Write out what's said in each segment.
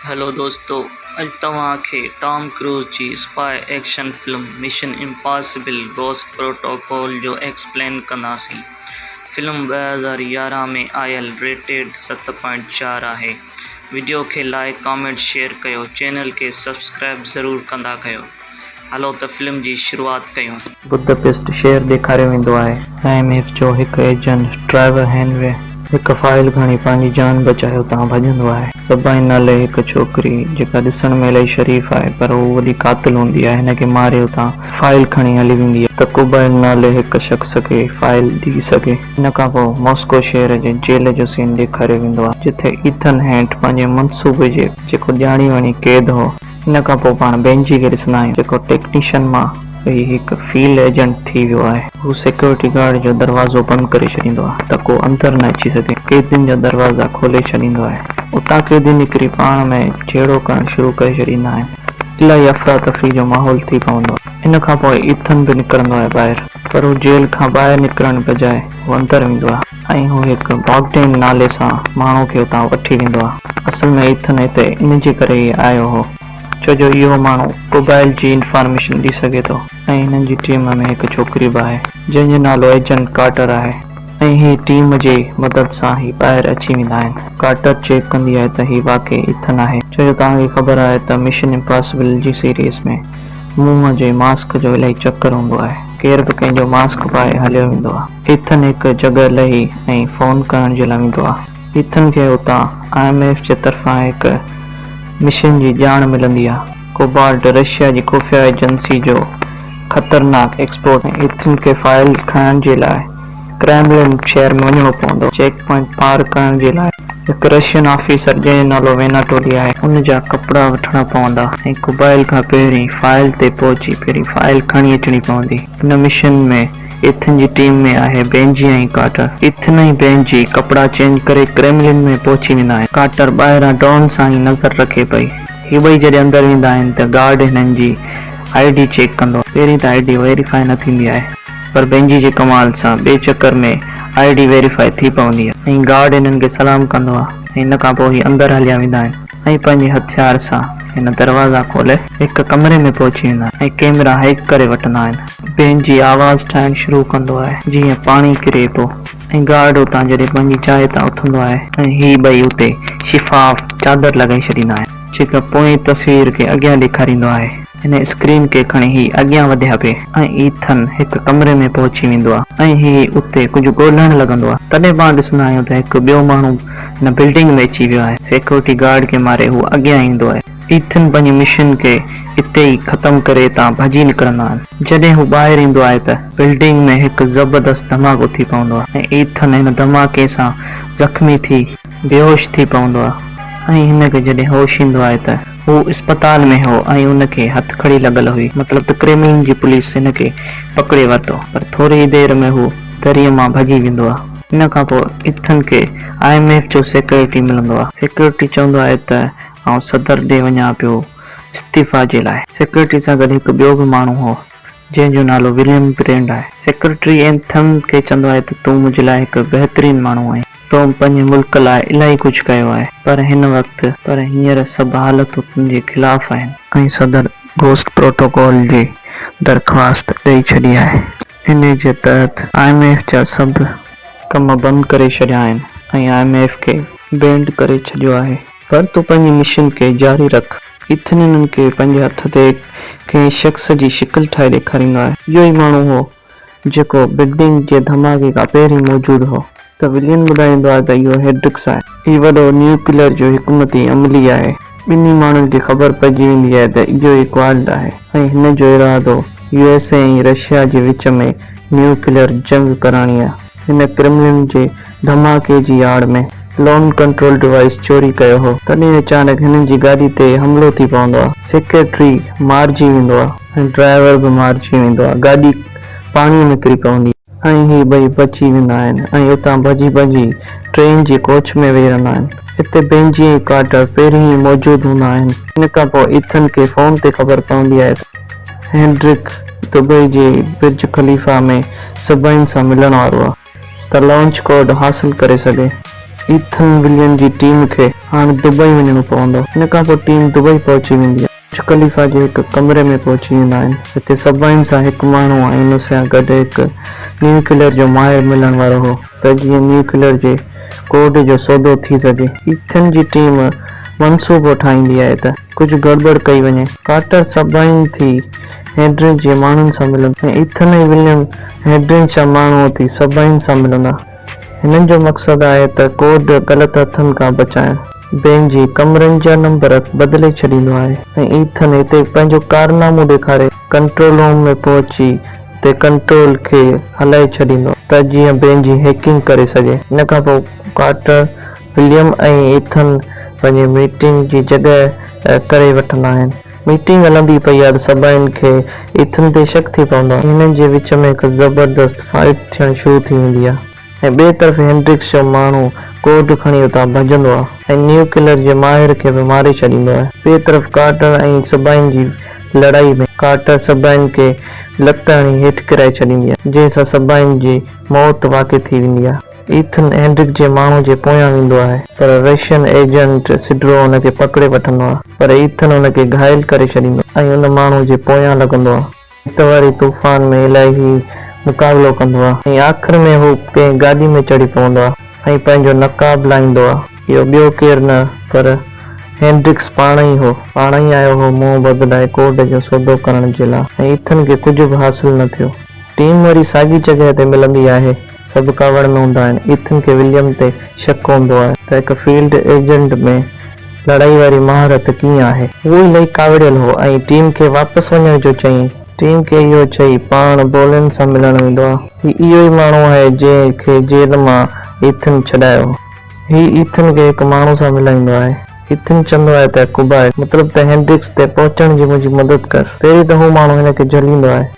Hello دوستو اڄ توهان کي ٽام ڪروز جي spy action film Mission Impossible Ghost Protocol جو ايڪسپلين ڪنداسين فلم ٻه هزار يارهن ۾ آيل ريٽيڊ ست پوائنٽ چار آهي وڊيو کي لائڪ ڪامينٽ شيئر ڪيو چينل کي سبسڪرائب ضرور ڪندا ڪيو هلو ته فلم جي شروعات ڪيون. بدپيسٽ شهر ڏيکاريو ويندو آهي. آء ايم ايف جو هڪ ايجنٽ ٽرائيور هينري هڪ فائل کڻي پنهنجي جان بچائي اتان ڀڄندو آهي. سبائن نالي هڪ ڇوڪري جيڪا ڏسڻ ۾ الائي شريف آهي پر هو وڏي قاتل هوندي آهي هن کي ماري اتان فائل کڻي هلي ويندي آهي ته ڪوبائل نالي هڪ شخص کي فائل ڏئي سگهي. ان کان پوء ماسڪو شهر جي جيل جو سين ڏيکاريو ويندو آهي جتي ايٿن هينٽ پنهنجي منصوبي جي جيڪو ڄاڻي وڻي قيد هو. ان کان پوء پاڻ بينجي کي ڏسندا آهيون جيڪو ٽيڪنيشن مان ويهي هڪ فيلڊ ايجنٽ ٿي ويو آهي. هو سيڪيورٽي گارڊ جو دروازو بند ڪري ڇڏيندو آهي ته ڪو اندر نه اچي سگهي. قيدين جا دروازا کولي ڇڏيندو آهي. اتان قيدي نڪري پاڻ ۾ جهيڙو ڪرڻ شروع ڪري ڇڏيندا آهن. الاهي افراتفري جو ماحول ٿي پوندو آهي. ان کان پوء ايٿن به نڪرندو آهي ٻاهر. پر هو جيل کان ٻاهر نڪرڻ بجاء هو اندر ويندو آهي. ۽ هو هڪ باگڊين نالي سان ماڻهو کي اتان وٺي ويندو آهي. اصل ۾ ايٿن هتي ان جي ڪري ئي آيو هو ڇو جو اهو ماڻهو قبائل جي انفارميشن ڏئي سگهي ٿو ۽ هنن جي ٽيم ۾ هڪ ڇوڪري به آهي جنهن جو نالو ايجنٽ ڪارٽر آهي ۽ هي ٽيم جي مدد سان هي ٻاهر اچي ويندا آهن. ڪارٽر چيڪ ڪندي آهي ته هي واقعي ايٿن آهي ڇو جو توهان کي خبر آهي ته مشن امپاسبل جي سيريز ۾ منهن جي ماسڪ جو الائي چڪر هوندو آهي ڪير به ڪنهن جو ماسڪ پائي هليو ويندو آهي. ايٿن هڪ جڳهه لهي ۽ فون ڪرڻ جي لاء ويندو آهي. ايٿن کي اتان آء ايم ايف جي طرفان هڪ مشن جي ڄاڻ ملندي آهي. ڪوبالٽ رشيا جي خفيه ايجنسي جو خطرناڪ ايڪسپورٽ آهي. ايٿن کي فائيل کڻڻ جي لاء ڪريملن شهر ۾ وڃڻو پوندو. چيڪ پوائنٽ پار ڪرڻ جي لاء هڪ رشين آفيسر جنهن جو نالو ويناٽولي آهي. ان جا ڪپڙا وٺڻا پوندا ۽ ڪوبالٽ کان پهرين فائيل تي پهچي پهرين فائيل کڻي اچڻي پوندي. ان مشن ۾ ايٿن جي ٽيم ۾ آهي بينجي ۽ ڪارٽر. ايٿن ۽ بينجي ڪپڙا چينج ڪري ڪريملن ۾ پهچي ويندا آهن. ڪارٽر ٻاهران ڊرون سان ئي نظر رکي پئي. هي ٻئي جڏهن اندر ويندا آهن ته گارڊ هنن جي آء ڊي چيڪ ڪندو آهي. پهرين ته آء ڊي ويريفائي نه ٿيندي آهي پر بينجي جي ڪمال سان ٻئي چڪر ۾ آء ڊي ويريفائي ٿي پوندي آهي ۽ گارڊ هنن کي سلام ڪندو آهي ۽ ان کان پوء هي اندر هليا ويندا آهن. ۽ پنهنجي هٿيار سان هن دروازا کولي هڪ ڪمري ۾ پهچي ويندا آهن ۽ ڪيمرا هئڪ ڪري وٺندا آهن. بين جي آواز ٺاهڻ شروع ڪندو آهي جيئن پاڻي ڪري ٿو ۽ گارڊ اتان جڏهن پنهنجي جاء تان اٿندو آهي ۽ هي ٻئي اتي شفاف چادر لڳائي ڇڏيندا آهن جيڪا پوئين تصوير کي اڳيان ڏيکاريندو آهي. هن اسڪرين کي کڻي هي اڳيان وڌيا پي ۽ ايٿن هڪ ڪمري ۾ پهچي ويندو آ ۽ هي اتي ڪجهه ڳولهڻ لڳندو آ تڏهن پاڻ ڏسندا آهيون ته هڪ ٻيو ماڻهو هن بلڊنگ ۾ اچي ويو آهي سيڪيورٽي گارڊ کي ماري هو اڳيان ايندو آهي ايٿن پنهنجي مشن کي اتي ئي ختم ڪري اتان ڀڄي نڪرندا آهن جڏهن هو ٻاهر ايندو آهي ته بلڊنگ ۾ هڪ زبردست ڌماڪو ٿي پوندو آ ۽ ايٿن هن ڌماڪي سان زخمي ٿي بيهوش ٿي پوندو آ ۽ هن کي جڏهن هوش ايندو آهي ته هو اسپتال ۾ هو ۽ هن کي هٿڪڙي لڳل هئي، مطلب ته ڪريملن جي پوليس هن کي پڪڙي ورتو، پر ٿوري ئي دير ۾ هو دريء مان ڀڄي ويندو آهي. ان کان پوء ايٿن کي آء ايم ايف جو سيڪريٽري ملندو آهي. سيڪريٽري چوندو آهي ته آئون صدر ڏي وڃان پيو استعيفيٰ جي لاء. سيڪريٽري سان گڏ هڪ ٻيو به ماڻهو هو، جنهن جو نالو وليم گرينڊ آهي. سيڪريٽري اينٿم کي چوندو آهي ته تون منهنجي لاء هڪ بهترين ماڻهو آهين. تو پنهنجي ملڪ لاء الائي ڪجهه ڪيو آهي. پر هن وقت. پر هينئر سڀ حالتون تنهنجي خلاف آهن. ۽ صدر گوسٽ پروٽوڪول جي درخواست ڏئي ڇڏي آهي. انهي جي تحت آء ايم ايف جا سڀ. ڪم بند ڪري ڇڏيا آهن ۽ آء ايم ايف کي. بينڊ ڪري ڇڏيو آهي. پر تون پنهنجي مشن کي جاري رک. ايٿن انهن کي پنهنجي هٿ تي ڪنهن شخص جي شڪل ٺاهي ڏيکارينگ آهي. اهو ئي ماڻهو هو جيڪو بگڊنگ جي ڌماڪي کان پهرين موجود هو ته ولين ٻڌائيندو آهي ته اهو هيڊرڪس آهي. هي وڏو نيوڪليئر جو حڪمتي عملي آهي. ٻنهي ماڻهن کي خبر پئجي ويندي آهي ته اهو ئي ڪوالٽ آهي ۽ هن جو ارادو يو ايس اي ۽ رشيا جي وچ ۾ نيوڪليئر جنگ ڪراڻي آهي. هن ڪرملن جي ڌماڪي جي آڙ ۾ لون ڪنٽرول ڊوائيس چوري ڪيو هو، تڏهن اچانڪ هنن جي گاڏي تي حملو ٿي پوندو آهي، سيڪريٽري مارجي ويندو آهي ۽ ڊرائيور به مارجي ويندو آهي، گاڏي پاڻي ۾ ڪري پوندي آهي. ۽ هي ٻئي بچي ويندا آهن ۽ اتان ڀڄي ڀڄي ٽرين جي ڪوچ ۾ ويهي رهندا آهن. اتي بينجي ۽ ڪارٽر پهرين ئي موجود هوندا آهن. ان کان پوء ايٿن کي فون تي خبر پوندي آهي ته هينڊرڪ دبئي جي برج خليفا ۾ سڀاين سان ملڻ وارو آهي. ته لانچ ڪوڊ حاصل ڪري سگهي. ايٿن ولين جي ٽيم کي هاڻ دبئي وڃڻو پوندو. ان کان پوء ٽيم دبئي پهچي ويندي آهي. برج خليفا جي هڪ ڪمري ۾ پهچي ويندا آهن. جتي سبائن سان هڪ ماڻهو ۽ ان سان گڏ هڪ نيوڪليئر جو ماهر ملڻ وارو هو ته جيئن نيوڪليئر جي ڪوڊ جو سودو ٿي سگهي. ايٿن جي ٽيم منصوبو ٺاهيندي آهي ته. ڪجهه گڙٻڙ ڪئي وڃي. ڪارٽر سبائين ٿي هيڊريج جي ماڻهن سان ملندو ۽ ايٿن ۽ وليم هيڊريج جا ماڻهو اٿي سبائين سان ملندا. هنن جو مقصد آهي ته ڪوڊ غلط هٿن کان بچائڻ. بين جي ڪمرن جا نمبر بدلي ڇڏيندو آهي ۽ ايٿن اتي پنهنجو ڪارنامو ڏيکاري ڪنٽرول روم ۾ پهچي اتي ڪنٽرول کي هلائي ڇڏيندو آهي ته جيئن بين جي هيڪنگ ڪري سگهي. ان کان پوء ڪارٽر وليم ۽ ايٿن پنهنجي ميٽنگ جي جڳهه ڪري وٺندا آهن. ميٽنگ هلندي پئي آهي ته سڀاين کي ايٿن تي شڪ ٿي پوندو آهي. هنن جي وچ ۾ هڪ زبردست فائيٽ ٿيڻ شروع ٿي ويندي آهي ۽ ٻئي طرف هينڊرڪس جو ماڻهو ڪورڊ کڻي اتان ڀڄندو آهي ۽ نيوڪليئر جي ماهر کي به ماري ڇڏيندو آهي. ٻئي طرف ڪارٽر ۽ سڀاين جي لڙائي ۾ ڪارٽر سڀاين کي لت هڻي هيٺ ڪرائي ڇڏيندي آهي، جنهن سان سڀاين جي موت واقع ٿي ويندي آهي. ايٿن هينڊرڪ جي ماڻهو جي پويان ويندو آهي، پر رشين ايجنٽ سڊرو هن کي پڪڙي وٺندو آهي، پر ايٿن هن کي گهائل ڪري ڇڏيندو آهي ۽ ان ماڻهو جي پويان لڳندو آهي. هت واري طوفان ۾ الائهي مقابلو ڪندو آهي ۽ آخر ۾ هو ڪنهن گاڏي ۾ چڙهي پوندو آهي ۽ پنهنجو نقاب لاهيندو آهي. اهو ٻيو ڪير نه پر هينڊرڪس پاڻ ئي هو. پاڻ ئي آيو هو منهن بدلائي ڪورڊ جو سودو ڪرڻ جي لاء ۽ ايٿن کي ڪجهه به حاصل نه ٿيو. ٽيم وري ساڳي جڳهه تي ملندي آهي. سڀ ڪاوڙ ۾ هوندا آهن. ايٿن کي وليم تي شڪ هوندو آهي ته هڪ فيلڊ ايجنٽ ۾ لڙائي واري مهارت ڪيئن آهي. هو الائي ڪاوڙيل هو ۽ ٽيم کي واپس وڃڻ جو چيائين. ٽيم کي اهو چئي پاڻ بولين سان ملڻ ويندو آهي. هي اهو ئي ماڻهو آهي جنهن کي جيل مان ايٿن ڇڏايو هو. هي ايٿن کي هڪ ماڻهو سان ملائيندو آهي. ايٿن چوندو آهي ته ڪوبائٽ، مطلب ته هينڊرڪس تي پهچڻ جي منهنجي مدد ڪر. پهرين ته هو ماڻهو هن کي جهليندو آهي.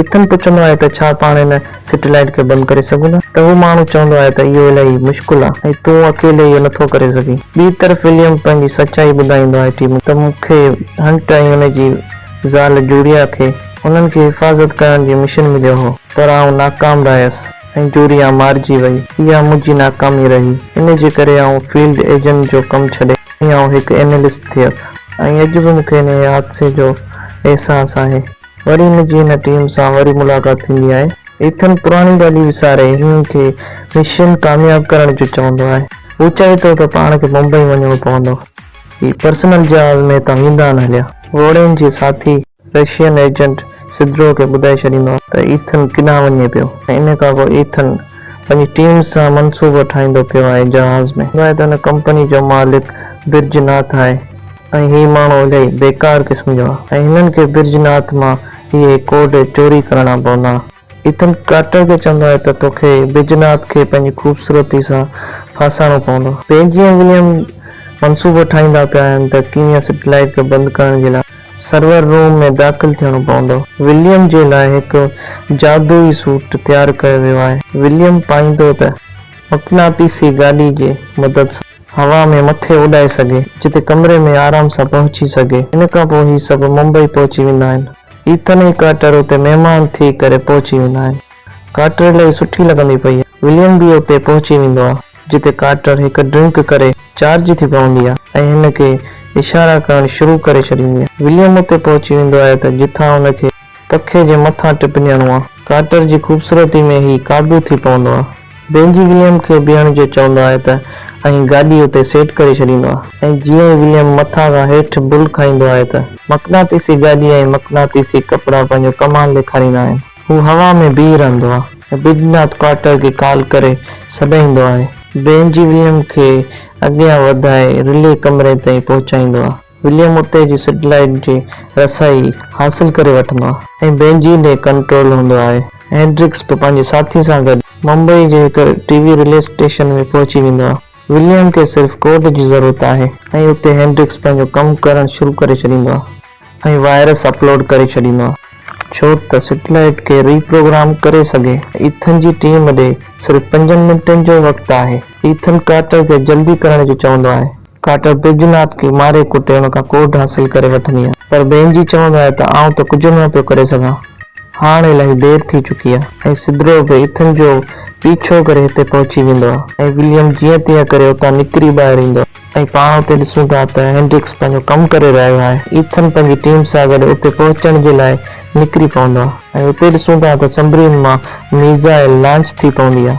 ايٿن پڇندو آهي ته ڇا پاڻ ان سيٽلائيٽ کي بند ڪري سگهون ٿا ته هو ماڻهو چوندو آهي ته اهو الائي مشڪل آهي ۽ تون اڪيلي اهو نٿو ڪري سگهين. ٻي طرف وليم پنهنجي سچائي ٻڌائيندو آهي ٽيم کي ته مون کي هنٽ ۽ ان جي زال جوريا کي انهن کي حفاظت ڪرڻ جي مشن مليو هو پر آئون ناڪام رهيس ۽ جوريا مارجي وئي اها منهنجي ناڪامي رهي ان جي ڪري آئون فيلڊ ايجنٽ جو ڪم ڇڏي آئون هڪ اينلسٽ ٿيس ۽ اڄ به مون کي انهيء حادثي جو احساس آهي. وري هن جي هن ٽيم سان وري ملاقات ٿيندي آهي. ايٿن پراڻي ڳالهيون وساري هن کي مشن ڪامياب ڪرڻ جو چوندو آهي. هو چوي ٿو ته پاڻ کي بمبئي وڃڻو پوندو. هي پرسنل جهاز ۾ هتان ويندا آهن هليا. گهوڙين جي ساٿي رشين ايجنٽ سدرو کي ٻڌائي ڇڏيندو آهي ته ايٿن ڪيڏانهن وڃي پيو ۽ ان کان پوء ايٿن پنهنجي ٽيم سان منصوبا ٺاهيندو پيو آهي جهاز ۾ هوندو آهي ته هن ڪمپني جو مالڪ برج ناٿ آهي. ۽ هي ماڻهو الائي بيڪار قسم جا ۽ هنن کي برج ناٿ مان اهي ڪوڊ چوري ڪرڻا پوندا. ايٿن ڪارٽر کي چوندو آهي ته توکي برج ناٿ کي پنهنجي خوبصورتي سان ڦاسائڻو پوندو. پين جي ۽ وليم منصوبو ٺاهيندا پيا آهن ته ڪيئن سيٽلائيٽ کي بند ڪرڻ جي لاء سرور روم ۾ داخل ٿيڻو پوندو. وليم جي لاء هڪ جادوئي سوٽ تيار ڪيو ويو آهي. وليم پائيندو ته مقناطيسي گاڏي جي مدد سان. هوا ۾ مٿي اڏائي سگهي، جتي ڪمري ۾ آرام سان پهچي سگهي. ان کان پوء هي سڀ ممبئي پهچي ويندا آهن. ايٿن ۽ ڪارٽر اتي مهمان ٿي ڪري پهچي ويندا آهن. ڪارٽر الائي سٺي لڳندي پئي آهي. وليم به اتي پهچي ويندو آهي، جتي ڪارٽر هڪ ڊرنڪ ڪري چارج ٿي پوندي آهي ۽ هن کي اشارا ڪرڻ شروع ڪري ڇڏيندي آهي. وليم اتي پهچي ويندو آهي ته جتان هن کي. پکي جي مٿان ٽپنيڻو آ. ڪارٽر جي خوبصورتي ۾ هي قابو ٿي پوندو آ. بينجي وليم کي بيهڻ جو چوندو آهي ته ۽ گاڏي اتي سيٽ ڪري ڇڏيندو آ. ۽ جيئن ئي وليم مٿان کان هيٺ بل کائيندو آهي ته. مقناطيسي گاڏي ۽ مقناطيسي ڪپڙا پنهنجو ڪمال ڏيکاريندا آهن. هو هوا ۾ بيهي رهندو آ. ۽ بيڊناٿ ڪارٽر کي ڪال ڪري سڏائيندو آهي. بينجي وليم کي اڳيان وڌائي رلي ڪمري تائين پهچائيندو آ. وليم اتي جي سيٽلائيٽ جي رسائي حاصل ڪري وٺندو آهي ۽ بينجي ڏي ڪنٽرول هوندو آهي. هينڊرڪس به پنهنجي ساٿي سان گڏ ممبئي جي هڪ ٽي وي رلي اسٽيشن ۾ پهچي ويندو آهي. وليم کي صرف ڪوڊ جي ضرورت آهي ۽ اتي هينڊرڪس پنهنجو ڪم ڪرڻ شروع ڪري ڇڏيندو آهي ۽ وائرس اپلوڊ ڪري ڇڏيندو آهي. ڇو ته سيٽلائيٽ کي ري پروگرام ڪري سگهي. ايٿن جي ٽيم ڏي صرف پنجن منٽن جو وقت آهي. ايٿن ڪارٽر کي جلدي ڪرڻ جو چوندو آهي. ڪاٽر پرجناٿ کي ماري ڪٽي ان کان ڪوڍ حاصل ڪري وٺندي آهي. پر بينجي چوندو آهي ته آئون ته ڪجهه به نه پيو ڪري سگهان. هاڻ الاهي دير ٿي چڪي آهي. ۽ سدرو به ايٿن جو پيڇو ڪري هتي پهچي ويندو آهي. ۽ وليم جيئن تيئن ڪري اتان نڪري ٻاهر ايندو آهي. ۽ پاڻ اتي ڏسون ٿا ته هينڊرڪس پنهنجو ڪم ڪري رهيو آهي. ايٿن پنهنجي ٽيم سان گڏ اتي پهچڻ جي لاء نڪري پوندو آهي. ۽ اتي ڏسون ٿا ته سمبرين مان ميزائل لانچ ٿي پوندي آهي.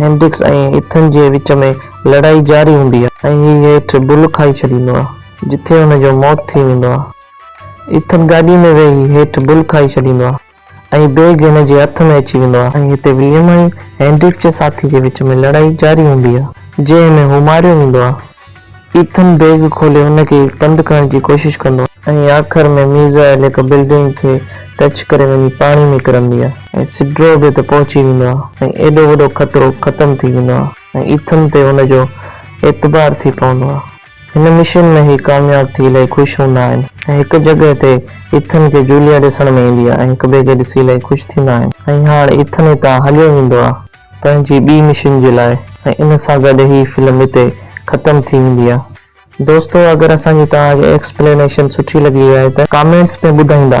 هينڊڪس ۽ ايٿن جي وچ ۾ لڙائي جاري هوندي آهي ۽ هي هيٺ بل کائي ڇڏيندو آهي جتي هن جو موت ٿي ويندو آهي. ايٿن گاڏي ۾ ويهي هيٺ بل کائي ڇڏيندو آهي ۽ بيگ هن جي هٿ ۾ اچي ويندو آهي ۽ هتي وليم ۽ هينڊڪس جي ساٿي جي وچ ۾ لڙائي جاري هوندي آهي جنهن ۾ هو ماريو ويندو آهي. ايٿن بيگ کولي ان کي بند ڪرڻ جي ڪوشش ڪندو آهي. ۽ آخر ۾ ميزائل هڪ بلڊنگ کي ٽچ ڪري وڃي پاڻي ۾ ڪرندي آهي ۽ سڊرو به ته پهچي ويندو آهي ۽ ايڏو وڏو خطرو ختم ٿي ويندو آهي ۽ ايٿن تي ان جو اعتبار ٿي پوندو آهي. هن مشن ۾ هي ڪامياب ٿي الائي خوش هوندا آهن ۽ هڪ جڳهه تي ايٿن کي جوليا ڏسڻ ۾ ايندي آهي ۽ هڪ ٻئي کي ڏسي الائي خوش ٿيندا آهن ۽ هاڻ ايٿن هتان هليو ويندو آهي. پنهنجي ٻي مشن جي لاء ۽ ان سان گڏ هي فلم هتي ختم ٿي ويندي آ. دوستو اگر اسان جي توهان کي ايڪسپلينيشن سٺي لڳي آهي ته ڪامينٽس ۾ ٻڌائيندا.